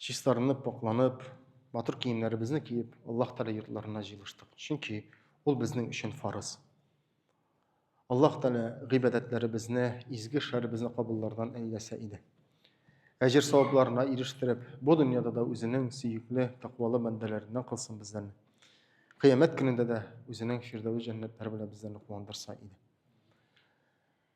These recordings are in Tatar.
чистарынып, пакьланып, матур киемнәребезне киеп, Аллаһ Тәгалә йортларына җыелыштык. Чөнки ул безнең өчен фарыз. Аллаһ Тәгалә гыйбадәтләребезне, изге эшләребезне кабуллардан әйләсә иде. Әҗер савапларына ирештереп, бу дөньяда да үзенең сөекле, тәкъвалы бәндәләреннән кылсын бездән. Кыямәт көнендә дә үзенең фирдәвес җәннәтләре белән безләрне куандырса иде.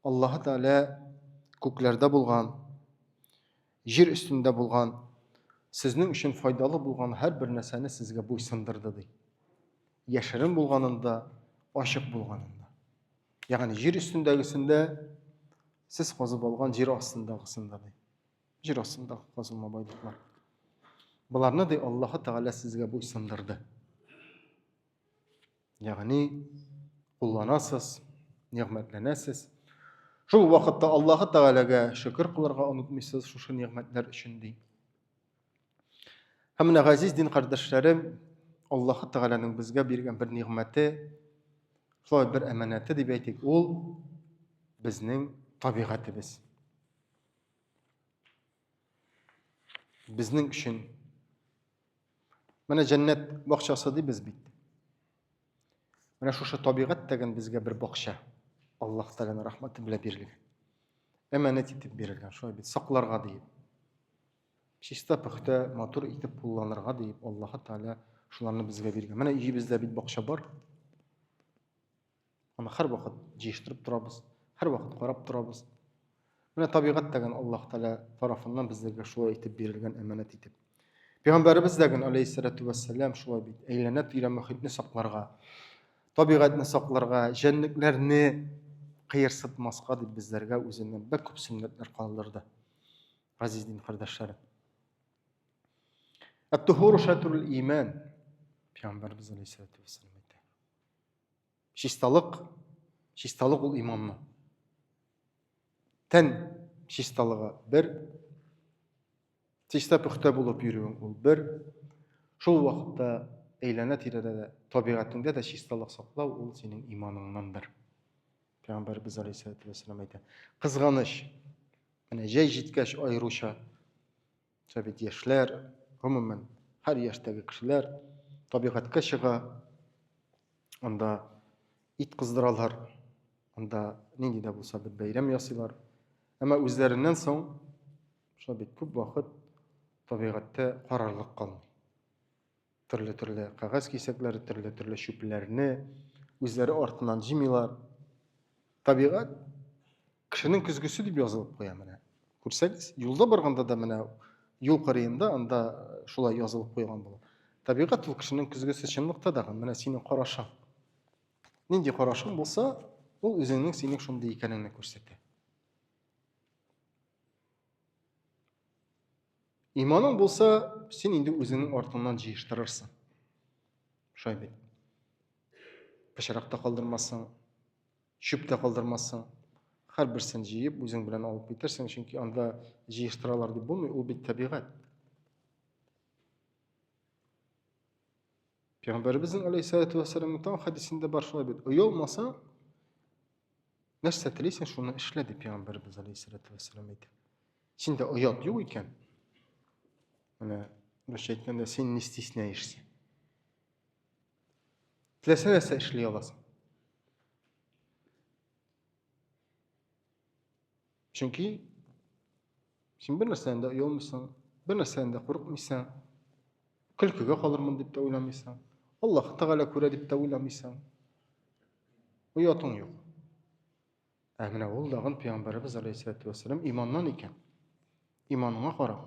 Аллаһы Тәгалә күкләрдә булган, җир өстендә булган, сезнең өчен файдалы булган һәрбер нәрсәне сезгә буйсындырды ди. Яшерен булганында, ачык булганында. Ягъни җир өстендәгесендә сез казып алган җир астындагысында ди. Җир астындагы казылма байлыклар. Боларны ди Аллаһы Тәгалә сезгә буйсындырды. Ягъни кулланасыз, нигъмәтләнәсез. Шул вакытта Аллаһы Тәгаләгә шөкер кылырга онытмыйсыз шушы нигъмәтләр өчен ди. Һәм менә газиз дин кардәшләрем, Аллаһы Тәгаләнең безгә биргән бер нигъмәте, шулай бер әманәте дип әйтик, ул безнең табигатебез. Безнең өчен менә җәннәт бакчасы дибез бит. Менә шушы табигать тәген безгә бер бакча. Аллаһ Тәгаләнең рәхмәте белән бирелгән. Әманәт итеп бирелгән, шулай бит, сакларга диеп. Чиста пөхтә, матур итеп кулланырга диеп Аллаһ Тәгалә шуларны безгә биргән. Менә өебездә бит бакча бар. Аны һәрвакыт җыештырып торабыз, һәрвакыт карап торабыз. Менә табигать тәген Аллаһ Тәгалә тарафыннан безгә шулай итеп бирелгән әманәт итеп. Пәйгамбәребез дә гын алейһиссалату вассалам шулай бит. Әйләнә тирә мөхитне сакларга, табигатьне сакларга, җәнлекләрне кыерсытмаска дип безләргә үзеннән бер күп сөннәтләр калдырды. Газиз дин кардәшләрем. Ат-тухуру шатрул иман. Пәйгамбәребез алейһиссалату вассалам Чисталык, чисталык ул иманның. Тән чисталыгы бер, чиста пөхтә булып йөрүең ул бер, шул вакытта әйләнә тирәдә дә, табигатеңдә дә чисталык саклау ул синең иманыңнан бер. Пәйгамбәрбез алейһиссәләтү вәссәлам әйтә. Кызганыч, менә җәй җиткәч аеруча Шулай бит яшьләр, гомумән, һәр яшьтәге кешеләр табигатькә чыга, анда ит кыздыралар, анда нинди дә булса бер бәйрәм ясыйлар. Әмма үзләреннән соң шулай бит күп вакыт табигатьтә карарлык калмый. Төрле-төрле кәгазь кисәкләре, төрле-төрле чүпләрне үзләре артыннан җимилар. Табигать кешенең көзгесе дип язылып куя менә. Күрсәгез, юлда барганда да менә юл кырыенда анда э, шулай язылып куйган була. Табигать ул кешенең көзгесе чынлыкта да менә синең карашың. Нинди карашың булса, ул үзеңнең синең шундый икәнеңне күрсәтә. Иманың булса, син инде үзеңнең артыңнан җыештырырсың. Шулай бит. Пычрак та калдырмассың, чүп тә калдырмассың. Һәрберсен җыеп, үзең белән алып китерсең, чөнки анда җыештыралар дип булмый, ул бит табигать. Пәйгамбәребезнең алейһиссалату вассаламның тау хәдисендә бар шулай бит. Оялмаса, нәрсә телисең, шуны эшлә дип пәйгамбәребез алейһиссалату вассалам әйтә. Синдә оят юк икән. Менә русча әйткәндә син не стесняешься. Теләсә нәрсә эшли аласың. Чөнки син бер нәрсәдән дә оялмыйсың, бер нәрсәдән дә курыкмыйсың, көлкегә калырмын дип тә уйламыйсың, Аллаһ Тәгалә күрә дип тә уйламыйсың. Оятың юк. Ә менә ул дагын пәйгамбәребез алейхиссалату вассалам иманнан икән. Иманыңа карап.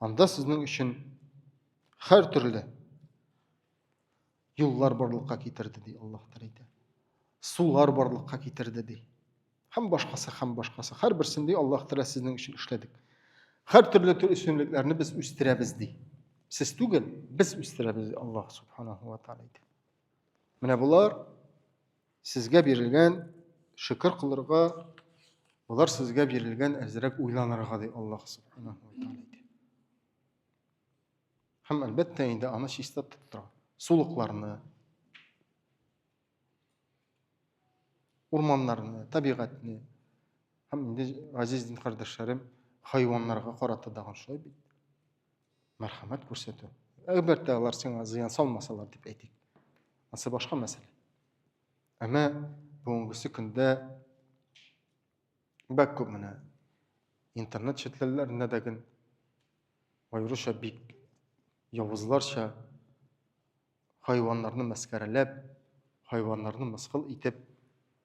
Анда сезнең өчен хәр төрле юллар барлыкка китерде ди Аллаһ Тәгалә. Сулар барлыкка китерде ди. Һәм башкасы, һәм башкасы. Хәр берсен ди Аллаһ Тәгалә сезнең өчен эшләдек. Хәр төрле төр өстенлекләрне без үстерәбез ди. Сез түгел, без үстерәбез ди Аллаһ Субханаһу ва Тәгалә. Менә булар Сезгә бирелгән шөкер кылырга, болар сезгә бирелгән әзрәк уйланырга ди Аллаһ субханаһу ва тааля. Һәм әлбәттә инде аны чиста тотып сулыкларны, урманнарны, табигатьне һәм инде газиз дин кардәшләрем хайваннарга карата да шулай бит. мәрхәмәт күрсәтү әлбәттә алар сиңа зыян салмасалар дип әйтик анысы башка мәсьәлә әмма бүгенгесе көндә бәк күп менә интернет челтәрләрендә дә гел аеруча бик явызларча хайваннарны мәскәрәләп хайваннарны мыскыл итеп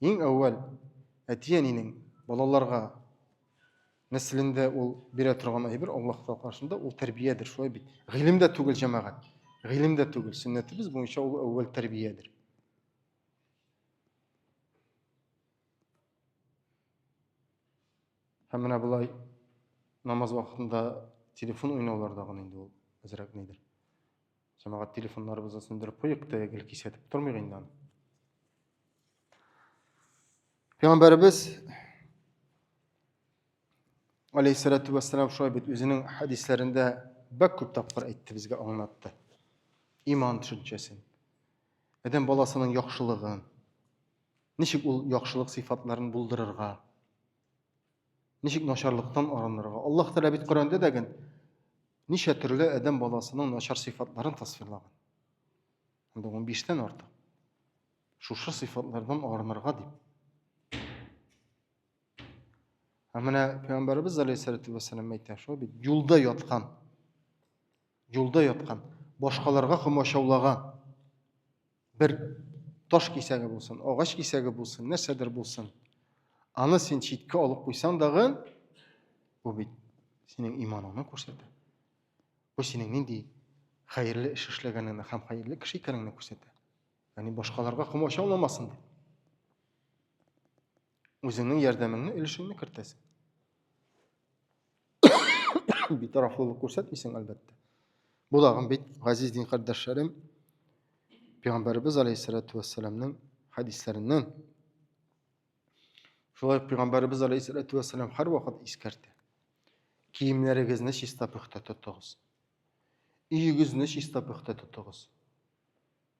Иң әүвәл әти-әнинең балаларга нәселендә ул бирә торган әйбер Аллаһ Тәгалә каршында ул тәрбиядер, шулай бит. Гыйлем дә түгел җәмәгать. Гыйлем дә түгел. Сөннәтебез буенча ул әүвәл тәрбиядер. Һәм менә болай намаз вакытында телефон уйнаулар да гына инде ул әзрәк нидер. Җәмәгать телефоннарыбызны сүндереп куйык, тә гел кисәтеп тормыйк инде аны. Пәйгамбәребез алейһиссалату вассалам шулай бит үзенең хәдисләрендә бәк күп тапкыр әйтте безгә аңлатты. Иман төшенчәсен. Адәм баласының яхшылыгын. Ничек ул яхшылык сыйфатларын булдырырга? Ничек начарлыктан арынырга? Аллаһ Тәгалә бит Коръәндә дә ген ничә төрле адәм баласының начар сыйфатларын тасвирлаган. Инде 15 тән артык. Шушы сыйфатлардан арынырга дип. Ә менә Пәйгамбәрбез алейһиссәләтү вәссәлам әйтә, шул бит юлда яткан. Юлда яткан, башкаларга комачаулаган. Бер таш кисәге булсын, агач кисәге булсын, нәрсәдер булсын. Аны син читкә алып куйсаң дагы, бу бит синең иманыңны күрсәтә. Бу синең нинди хәерле эш эшләгәнеңне һәм хәерле кеше икәнеңне күрсәтә. Ягъни башкаларга комачауламасын дип. үзеңнең ярдәмеңне өлешеңне кертәсең битарафлылык күрсәтмисең әлбәттә бу дагы бит газиз дин кардәшләрем пәйгамбәребез алейхиссалату вассаламның хәдисләреннән шулай ук пәйгамбәребез алейхиссалату вассалам һәрвакыт искәртә киемнәрегезне чиста пөхтә тотыгыз өегезне чиста пөхтә тотыгыз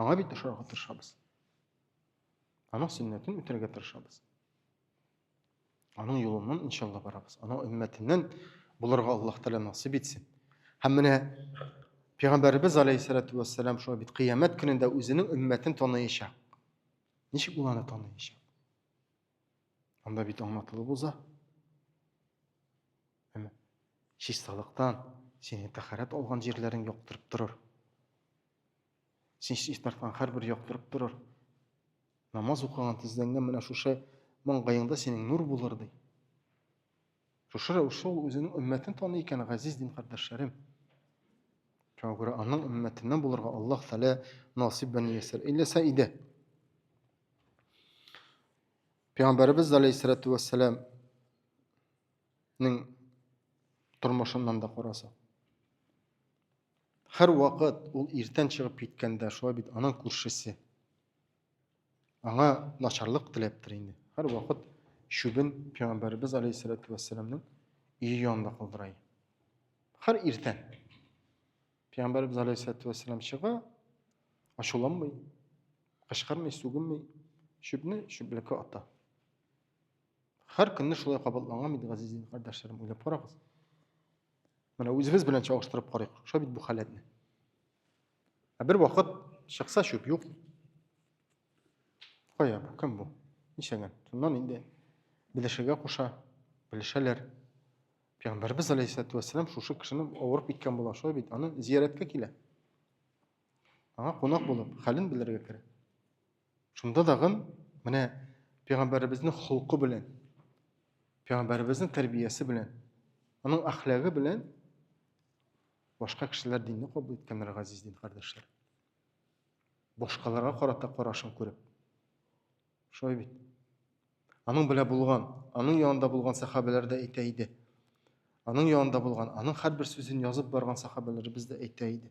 Аңа бит ошарга тырышабыз. Аның сөннәтен үтәргә тырышабыз. Аның юлыннан иншалла барабыз. Аның өммәтеннән булырга Аллаһ Тәгалә насыйп итсен. Һәм менә Пәйгамбәрбез алейһиссалату вассалам шулай бит кыямәт көнендә үзенең өммәтен таныячак. Ничек ул аны таныячак? Анда бит аңлатылып уза. Әмма чисталыктан сине тәхәрәт алган җирләрең яктырып торыр. Сис ишетмәсәң, һәрбер яктырып торыр. Намаз укыган тезләнгән менә шушы маңгаеңда синең нур булыр ди. Шушы рәвешле ул үзенең өммәтен таный икән, газиз дин кардәшләрем. Шуңа күрә аның өммәтеннән булырга Аллаһ Тәгалә насыйп белән ясар. Иләсә иде. Пәйгамбәрбез алейһиссалату вассалам ның тормышыннан да караса. Һәрвакыт ул иртән чыгып киткәндә, шулай бит аның күршесе. Аңа начарлык теләптер инде. Һәрвакыт чүбен Пәйгамбәребез алейһиссәләтү вәссәламның өе янында калдыра. Һәр иртән Пәйгамбәребез алейһиссәләтү вәссәлам чыга, ачуланмый, кычкырмый, сүгенмей, чүпне чүплеккә ата. Һәр көнне шулай кабатланган бит, газиз кардәшләрем, уйлап карагыз. Менә үзебез белән чагыштырып карыйк. Шулай бит бу халәтне. Ә бер вакыт чыкса чүп юк. Кая бу? Кем бу? Ничәгән? Шуннан инде белешергә куша, белешәләр. Пәйгамбәрбез алейхиссалату вассалам шушы кешене авырып киткән була, шулай бит, аны зияраткә килә. Аңа кунак булып, хәлен белергә керә. Шунда тагын менә пәйгамбәребезнең холкы белән, пәйгамбәребезнең тәрбиясе белән, аның әхлагы белән башка кешеләр динне кабул иткәннәр газиз дин кардәшләр. Башкаларга карата карашын күреп. Шулай бит. Аның белә булган, аның янында булган сахабәләр дә әйтә иде. Аның янында булган, аның һәрбер сүзен язып барган сахабәләребез дә әйтә иде.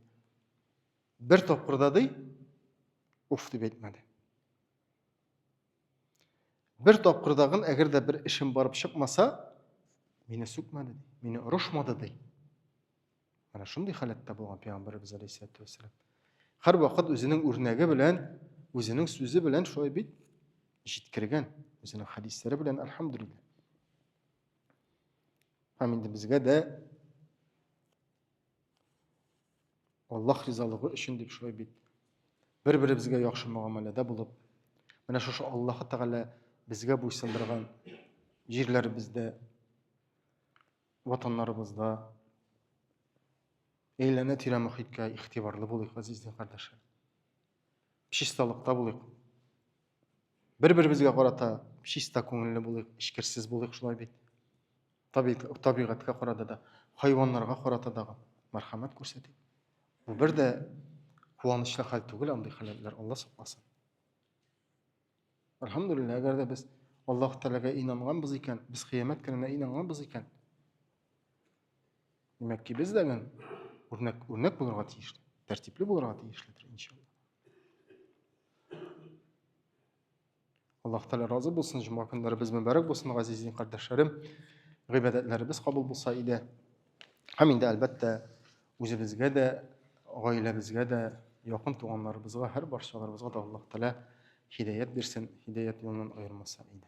Бер тапкырда ди, уф дип әйтмәде. Бер тапкырдагын, әгәр дә бер эшем барып чыкмаса, мине сүкмәде, мине орышмады ди. Менә шундый халәттә булган пәйгамбәребез алейһиссәләтү вәссәлам. Һәрвакыт үзенең үрнәге белән, үзенең сүзе белән шулай бит җиткергән, үзенең хәдисләре белән, альхамдулиллаһ. Һәм инде безгә дә Аллах ризалыгы өчен дип шулай бит. Бер-беребезгә яхшы мөгамәләдә булып, менә шушы Аллаһы Тәгалә безгә буйсындырган җирләребездә, ватаннарыбызда әйләнә тирә мөхиткә игътибарлы булыйк, газизле кардәшләр. Чисталыкта булыйк. бер беребезгә карата чиста күңелле булыйк эчкерсез булыйк шулай бит табигатькә карата да хайваннарга карата да мәрхәмәт күрсәтик бу бер дә куанычлы хәл түгел андый хәләтләр алла сакласын әлхәмдулилла әгәр дә без аллаһ тәләгә инанганбыз икән без кыямәт көненә инанганбыз икән демәк ки без дәген үрнәк үрнәк булырга тиешле тәртипле булырга тиешледер иншалла Аллаһ Тәгалә разы булсын, җомга көннәребез мөбарәк булсын, газиз дин кардәшләрем. Гыйбадәтләребез кабул булса иде. Һәм инде әлбәттә үзебезгә дә, гаиләбезгә дә, якын туганнарыбызга, һәр барчаларыбызга да Аллаһ Тәгалә хидәят бирсен, хидәят юлыннан аермаса иде.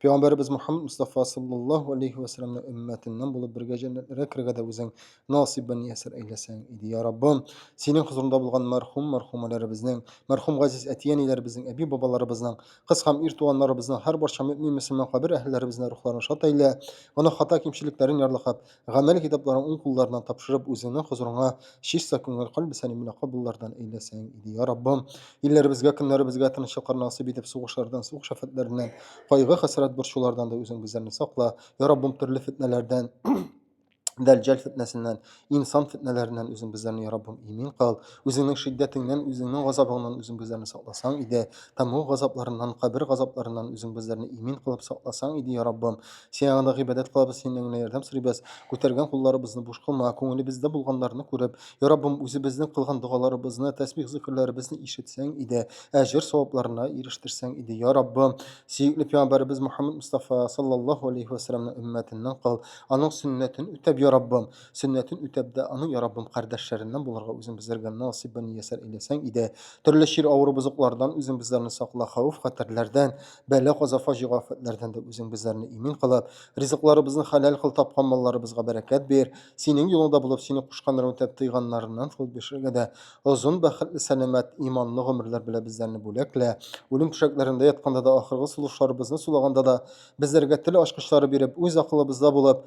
Пәйгамбәребез Мухаммад Мустафа саллаллаһу алейхи ва салламның өммәтеннән булып бергә җәннәтләргә керергә дә үзең насыйп бен ясәр әйләсәң иде, я Раббым. Синең хозурыңда булган мәрхүм мәрхүмәләребезнең, мәрхүм газиз әти-әниләребезнең, әби-бабаларыбызның, кыз һәм ир туганнарыбызның һәр барча мөэмин мөселман кабер әһелләребезнең рухларын шат әйлә, гөнаһ хата кимчелекләрен ярлыкап, Гамәли китапларын уң кулларына тапшырып, үзеңнең хозурыңа чиста күңел, кальб сәлимле кабуллардан әйләсәң иде, я Раббым! Илләребезгә, көннәребезгә тынычлыклар насыйп итеп, сугышлардан, сугыш-афәтләреннән, кайгы-хәсрәт, борчулардан да үзең безләрне сакла, я Раббым, төрле фетнәләрдән, дәлҗәл фетнәсеннән, инсан фетнәләреннән үзең безләрне, я Раббым, имин кыл, үзеңнең шиддәтеңнән, үзеңнең газабыңнан үзең безләрне сакласаң иде, тәмуг газапларыннан, кабер газапларыннан үзең безләрне имин кылып сакласаң иде, я Раббым! Син аңда гыйбадәт кылабыз, синнән генә ярдәм сорыйбыз. Күтәргән кулларыбызны буш кылма, күңелебездә булганнарны күреп. Я Раббым, үзебезнең кылган догаларыбызны, тәсбих-зикерләребезне ишетсәң иде, әҗер-савапларына ирештерсәң иде. Я Раббым, сөекле пәйгамбәребез Мөхәммәд Мустафа саллаллаһу алейһи вә сәлләмнең өммәтеннән кыл, аның сөннәтен үтәп, я Раббым, сөннәтен үтәп дә, аның, я Раббым, кардәшләреннән булырга үзең безләргә насыйп-миясәр әйләсәң иде. Төрле чир, авыру-бозыклардан үзең безләрне сакла, хәвеф-хәтәрләрдән, Бәла каза фаҗига афәтләрдән дә үзең безләрне имин кылып, ризыкларыбызны хәләл кыл, тапкан малларыбызга бәрәкәт бир, синең юлыңда булып, сине кушканнарын үтәп, тыйганнарыннан куып яшәргә дә озын, бәхетле, сәламәт, иманлы гомерләр белә безләрне бүләклә, үлем түшәкләрендә ятканда да, ахыргы сулышларыбызны сулаганда да, безләргә тел ачкычлары биреп, үз акылыбызда булып,